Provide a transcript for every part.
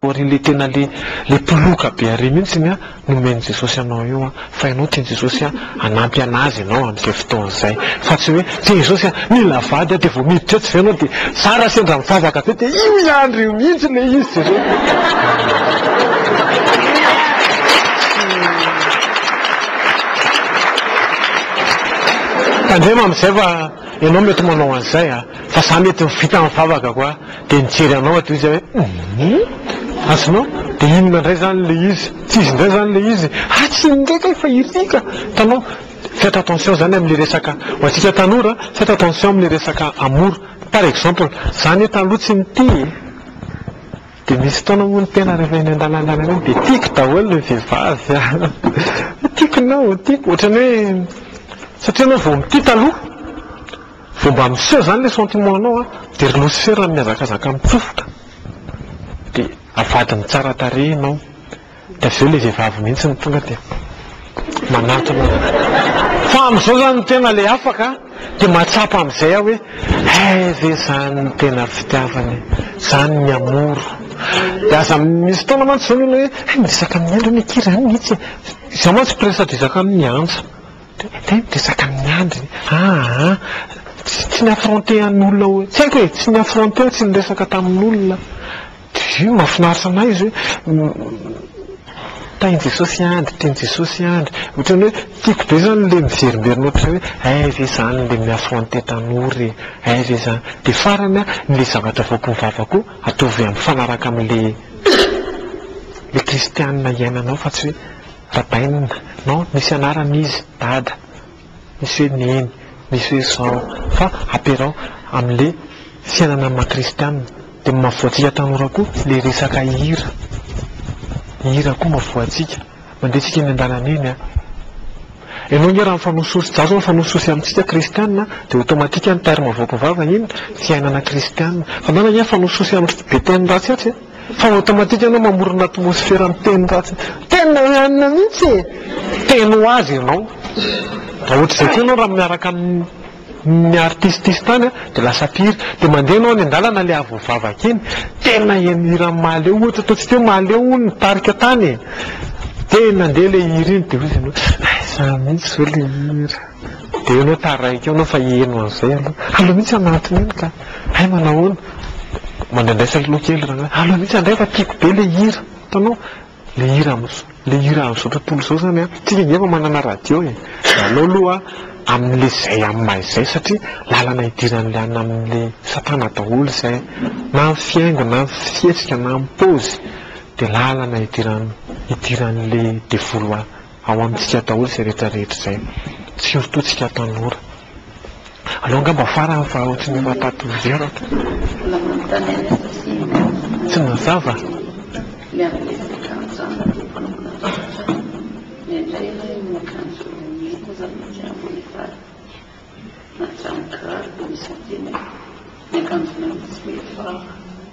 Ary ilay tena ilay mpiloka be ary mihintsy ny nomen'i Jesosy anao io an, fa ianao tian'i Jesosy hanampy an'Azy ianao amin'izay fotoana izay, fa tsy hoe tian'i Jesosy an, mila vady an, dia vao miditra etsy izay ianao dia zara sendra mivavaka be dia io ihany ry io mihintsy ilay izy Jesosy. Tandremo amin'izay fa ianao mety manao an'izay an, fa za mety vita mivavaka koa. Dia nijery anao ato izy hoe hum! Azonao? Dia inona indray izany ilay izy? Tsy izy indray izany ilay izy? Ha! Tsy inona indray kay fa iry ka! Hitanao? Faites attention izany amin'ilay resaka, ho antsika tanora, faites attention amin'ilay resaka amour. Par exemple, za anie taloha tsy nitia e! Dia misy fotoana moa ny tena rehefa eny an-dalana eny amin'iny dia tiako daholo ny vehivavy a! Tiako ny anao, tiako! Ohatran'ny hoe, satria ianao vao mitia taloha. Vao mba miseho izany ilay sentiment anao an, dia ry losifera mihazakazaka mitsofoka, dia avadiny tsara tarehy ianao, dia avy eo ilay vehivavy mihitsy no tonga dia manatona anao. Fa amin'izao izany ny tena ilay afaka an, dia mahatsapa amin'izay aho hoe, hay ve izany no tena fitiavana e, izany ny amour. Dia aza misy fotoana mantsy izao ny olona hoe, hay miresaka amin'ny andry anie kira ihany mihitsy e, izaho mantsy mpiresadresaka amin'ny andry. Zay no resaka amin'ny andriny aa, tsy ny affronter an'olona hoe, tsy haiko e, tsy ny affronter, tsy niresaka tamin'olona, dia mahafinaritra an'ahy izy hoe tahin'i Jesosy andry, tian'i Jesosy andry, ohatran'ny hoe tiako be izany ilay miverimberina ohatran'izay hoe hay ve izany ilay mi-affronter tanora e, hay ve izany, dia farany an, ilay zavatra avoaky ny vava koa ataovy mifanaraka amin'ilay ilay kristianina iainanao fa tsy hoe. Rabainina, non, misy anarany izy, dada, misy hoe neny, misy hoe zao, fa ampiaraho amin'ilay fiainana amin'ny maha kristiana, dia maha-voantsika tanora koa ilay resaka hira, ny hira koa maha-voantsika, mandeha tsika eny an-dalana eny an, ianao ange raha mifanosihosy, za zao mifanosihosy amintsika kristiana dia automatique ny terme avoaka vava iny, fiainana kristiana, fa ianao ange mifanosihosy amin'ny be teny ratsy atsy an. Fa automatique ianao mamorona atmosfera amin'ny teny ratsy. Tena ihany mihitsy e! Teny ho azy ianao. Raha ohatr'izay koa ianao raha miaraka amin'ny artistes tany an, dia lasa pire. Dia mandeha ianao any an-dalana ilay avo vavaka iny, tena eny hiran'i Mahaleo ohatra, ataontsika hoe Mahaleo hono nitarika tany e! Dia nandeha ilay hira iny dia hoy izy amin'iny hoe, aiza mihitsy izao ilay hira? Dia eo enao taraiky eo enao fa heno an'izay aloha. Aleo mihitsy aho maty mino ka. Hay manahoana? Mandraindraisa aloha kely rangahy. Aleo mihitsy handray fa tiako be ilay hira. Hitanao? Ilay hira amin'izao, ilay hira amin'izao tontolo izao izany an. Isika ange efa manana radio e. Aleo aloha amin'ilay izay amin'ny maha izay satria lalana idiran'ilay any amin'ilay satana daholo izay. Na ny fihaingo na ny fihetsika na ny paozy dia lalana idiran'ilay devoly ho any. Ao amintsika daholo izay rehetra rehetra izay, surtout tsika tanora. Aleo angamba farany fa ohatry ny efa tato ho zero ato. Tsy mazava?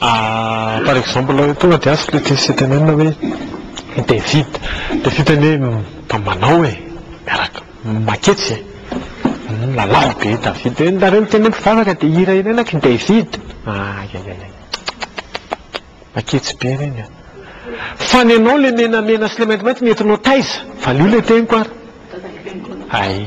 Par exemple, tonga dia ask le questionnement hoe David, David zany hoe mba manao e, miaraka, maketsy e, lalao be David, de nareo miteny hoe mpivavaka de hira ireny aky David, ayayay, maketsy be reny a! Fa ny anao le menamena sy le maintimainty nentinao taiza? Valio le teniko ary! Ay.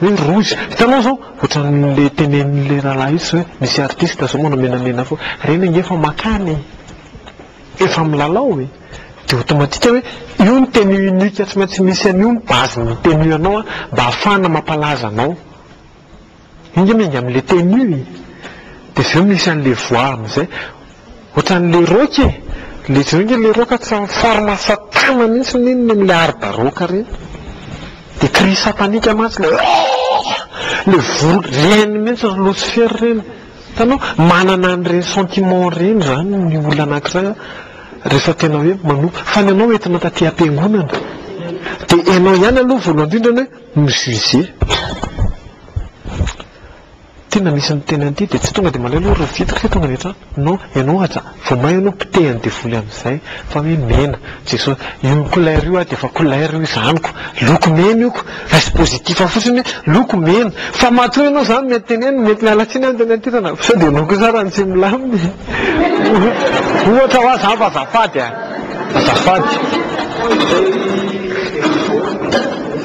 Hoe ry rohy, hitanao zao ohatran'le tenenin'le rahalahy io zao hoe misy artiste zao manao menamena fo, reny ange efa makany e! Efa milalao e! Dia automatique hoe io ny tenue unique tsy maintsy misy an'io ny base-n'ny tenue anao mba hahafahana mampalaza anao. Io nge miainga amin'le tenue e! Dia avy eo misy an'le voix amin'izay. Ohatran'ny le rock e! Le jereo nge le rock tsy amin'ny forme satana mintsy ny inona iny le hard rock reny. De cri satanique mantsy le ooh! Le vory reny mintsy ry losifera reny. Hitanao? Manana an'ireny sentiment ireny zany ny olona anankiray a rehefa tena hoe manompo. Fa ny anao entina taty am-piangonana. De ianao ihany aloha voalohany indrindra ny hoe mi-juger. Tena misy miteny an'ity dia tsy tonga dia maleo aloha ry Vitika tonga any an-trano, non, ianao aza vao may aloha potehy an'i devoly amin'izay fa hoe mena, Jesosy, io couleur io aho dia efa couleur io izaniko, loko mena io ko, raiso positif fotsiny hoe loko mena, fa matoa ianao izany mety tenenina, mety miala tsiny aho ny teny an-toerana, sao dia ianao kosa ary no tsy milamina e! ohatra hoa izany fa azafady a! azafady.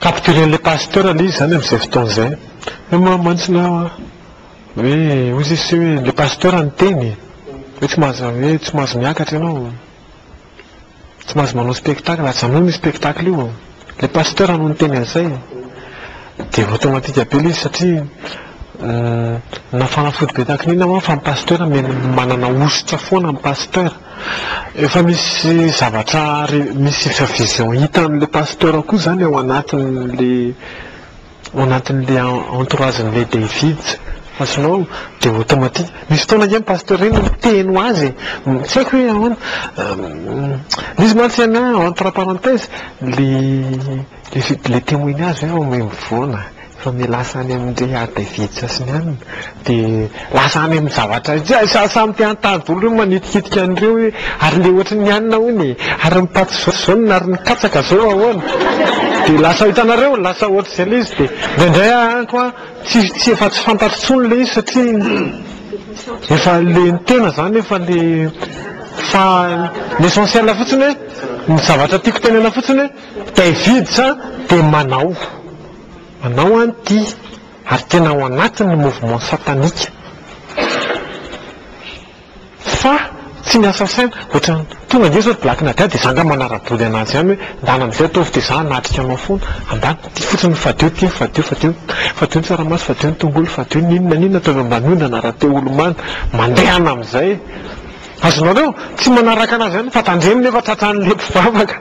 Capturen'ilay pasteur le izy zany amin'izay fotoana izay. Hoe moa mantsy na hoe hoy Jesoa hoe ilay pasteur niteny e! hoe tsy mahazo hoe tsy mahazo miakatra ianao, tsy mahazo manao spectacle, ajanony io spectacle io, ilay pasteur no niteny an'izay. Dia automatique be ilay izy satria na fanafody be tahaka an'inona moa fa ny pasteur manana hosotra foana ny pasteur. Efa misy zavatra misy efa vision hitan'ilay pasteur koa izany ao anatin'ilay ao anatin'ilay entourage-n'ilay David fa tsy nao dia automatique misy fotoana ange ny pasteur iny miteny ho azy e! tsy haiko hoe ahoana misy mantsy an entre parenthèse le le témoignage hoe mivoana fa ny lasa any amin'ny rehadevice sy ny anona dia lasa any amin'ny zavatra hafa, samy te hanontany daholo ireo manitikitika an'ireo hoe ary ilay ohatry ny anona hono e, ary ny paty izao izao no, ary ny katsaka izao ahoana? dia lasa hitanareo, lasa ohatr'izay ilay izy, dia indraindray aho any koa tsy, tsy, efa tsy fantatro intsony ilay izy satria efa ilay ny tena izany efa le, fa ny essentiel fotsiny hoe, ny zavatra tiako tenenana fotsiny hoe, Davids dia manao, Anao an ity ary tena ao anatin ny mouvement satanika fa tsy ny assassin otran tonga nge zao ry black nadia de za nga manaraboly anazy ihany hoe ndana amizay ataovy de za hanatrika anao fona andana ty fotsiny ny fadio ty fadio fadio fadio ny tsaramaso fadio ny tongolo fadio ny inona ny inona ataovy ambany ondana raha te olo mando mandehana amizay e azonareo tsy manaraka anazy ihany fa tandremo nefa tratranle mpivavaka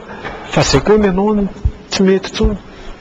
fa zay koa ny anao tsy mety tsony.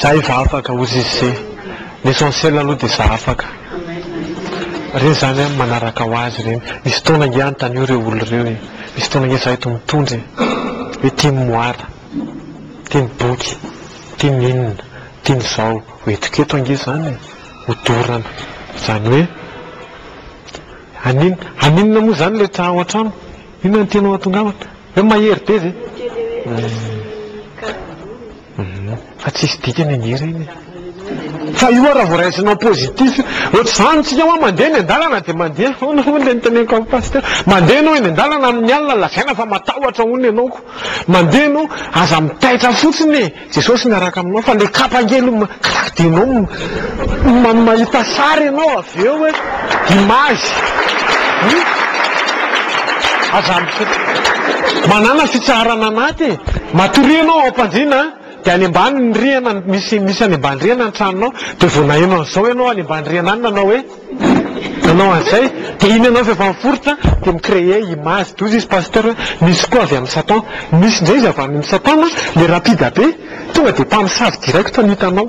Za efa afaka hozy izy se l'essentiel aloha de za afaka re zany an manaraka ho azy reny misy fotoana nge antanio reo olo reo e misy fotoana nge za eto mitondra e hoe tim moara tim boky tim inona tim zao ho entiko eto ange zany e ho dorana zany hoe hanin haninona moa zany le tra ao antrano inona no tianao hatongavana Hoe mahery be ve? Fa tsisy dikany ange reny e. Fa io raha vao raisina en positif, ohatr'izany tsika hoa mandeha eny an-dalana dia mandeha ahoana hono ilay niteneniko amin'ny pasteur, mandeha ianao eny an-dalana amin'ny alina lazaina fa matahotra hono ianao ko, mandeha ianao aza mitaitra fotsiny e. Jesosy miaraka aminao fa le kapa nge lo claque de nom man mahita sary enao avy eo hoe image hum aza misaotra manana fitsaharana anaty e matoa rihana ao ampandriana an de any ambany ny rihana misy misy any ambany rihana ny tranonao de vao naheno an'izao enao any ambany rihana any nanao hoe Nanao an'izay dia iny ianao efa miforitra dia mi-crée image doza izy Pasteur hoe misy koa avy amin'ny Satan. Misy indray izy avy amin'ny Satan le rapide be tonga dia mpamosavy direct no hitanao.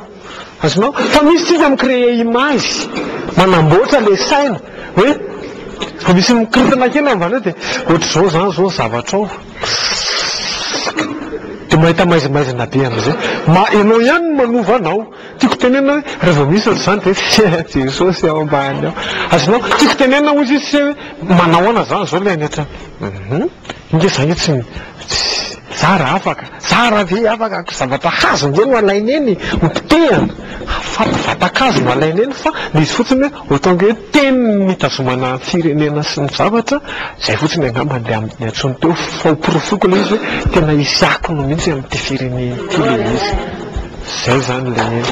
Azonao? Fa misy tsika mi-crée image manamboatra le saina hoe vao misy mikorotana kely ambany eo dia ohatr'izao izany izao ny zavatra ao. Dia mahita maizimaizina be amin'izay. Ianao ihany no manova anao. Tiako tenenina hoe raha vao misy ohatr'izany dia tsy hay Jesosy ao ambany ao. Azonao? Tiako tenenina hoy izy tsy hay hoe manao ahoana izany izao ilay any an-trano. Hum, ingahy za ange tsy za raha afaka, za raha ve afaka ko zavatra hazo ange no alaina eny, ho potehana, fa vatan-kazo no alaina eny fa le izy fotsiny hoe. Autant que hoe teny nitazomana ny firenena sy ny zavatra, izay fotsiny angamba andeha aminy intsony teo fa ho porofoko ilay izy hoe tena hisy akony mihitsy amin'ity firenena ity ilay izy. Izay izany ilay izy.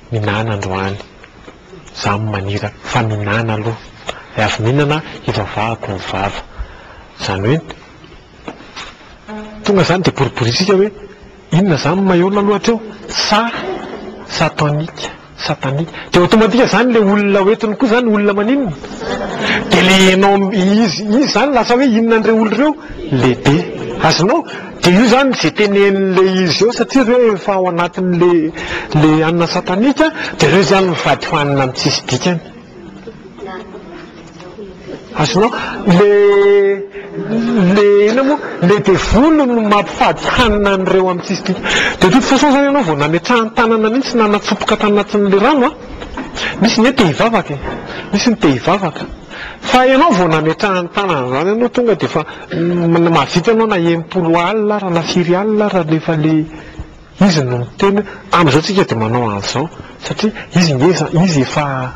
Minana androany. Za manira fa minana aloha de avy minana hivavahako ny vava. Zany hoe tonga zany de boriborisika hoe inona zany maillot na lohatra eo sa sa tonic sa tanic de automatique zany le olona ho entiny koa zany olona maninona de le enao izy izy zany lasa hoe inona an'ireo olona ireo lehibe azonao Dia io izany izay tenenin'ilay izy eo satria ireo efa ao anatin'ilay anona satanika dia ireo izany mivady fanina amin'ny tsisy dikany. Azonao? Ilay le inona moa? Ilay devoly no mampifady hanina an'ireo amin'ny tsisy dikany. Dia de toute façon izany ianao vao nametrahany tanana mihitsy na natsofoka tany anatin'ilay rano a, misy ny hoe te hivavaka e, misy ny te hivavaka. Fa ianao vao nametrahany tanana izany ianao tonga dia efa Mahavita ianao na enimpolo alina ara na firy alina ara rehefa ilay izy no miteny hoe amin'izao tsika dia manao an'izao satria izy nge izy efa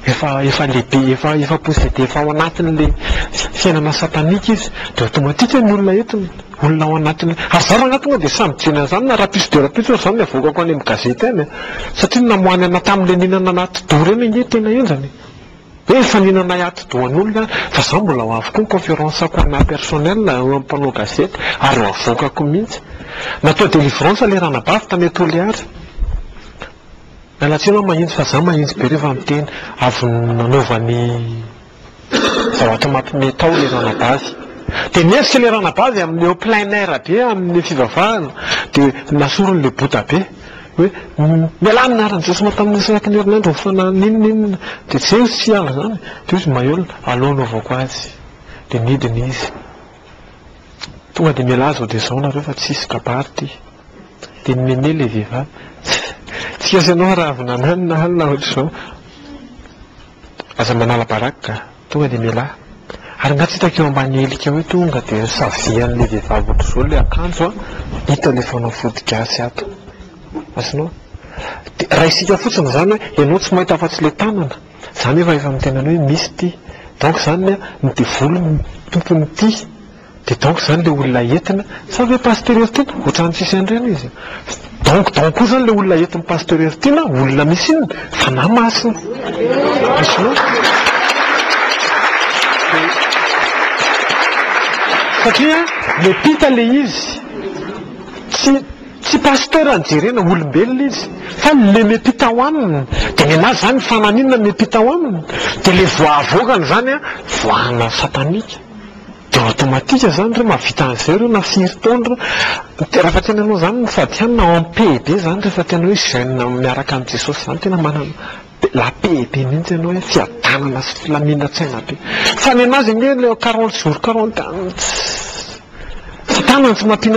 efa efa lehibe efa efa posede efa ao anatin'ilay fiainana satanika izy dia automatique ny olona entiny olona ao anatin'ilay ary za rangahy tonga dia samy mijery an'izany na rapiso dia rapiso ary izany no avoakako any amin'ny gazety any satria ny namoahany anà tamin'ilay nihinana anà atidoha ireny ange tena henjana e. Hoe efa nihinanay atidohan'olona fa za mbola ho avy koa ny conférence ko anah personnel eo amin'ny mpanao gazety ary ho avoakako mihitsy. Natao délivrance le ranabavy tany Toliary. Miala tsiny aho mahintsy fa za mahintsy be rehefa miteny. Avy nanova ny zavatra mampime tao le ranabavy. Dia nihevitra le ranabavy amin'ny eo plein air be amin'ny fivavahana dia nasoriny le boda be. hoe mialà amin'ny anaran'i Jesosy mampitamin'ny ny isaky ny herinandro ny fanahy n'inona n'inona dia tsy eo tsy aho izany dia hoy izy Maïol alao anaovako azy dia nidina izy tonga dia mialà izao dia izao nareo fa tsy hisy kabary ity dia nimeme ilay vehivavy tsy gasy ianao raha avy nananona alina ohatr'izao Aza manala baraky ka! Tonga dia mialahy. Ary nga tsy hitako eo ambany helika eo tonga dia savian'ilay vehivavy ohatr'izao ilay akanjo an! Hita ilay fanao foto-gasy ato. Azonao? Dia raisika fotsiny izany hoe ianao tsy mahita afa-tsy ilay tanana. Izany efa efa mitenany hoe misy ity. Donc izany ny devoly no tompon'ity. Dia donc izany ilay olona entina? Sa ve Pasteur Heritiana? Ohatran'ny tsisy an'ireny izy. Donc donc koa izany ilay olona entin'i Pasteur Heritiana, olona misy inona? Fanahy Masina. Hitanao? Satria miampita ilay izy. Tsy tsy Pasteur no jerena, olombelona izy. Fa ilay miampita ao aminy. Dia nenazy izany fanahy inona miampita ao aminy? Dia ilay voa avoakany izany an, voahana satanika. Dia automatique zany re mahavita an'izay reo na firy taona reo. Rehefa tena anao zany ny fadihana en paix be zany rehefa tena hoe jeune miaraka amin'i Jesosy zany tena manana la paix be mihintsy ianao hoe fiadanana sy filaminantsaina be. Fa ny an'azy ange le quarante jours quarante tsy tanana tsy mampihina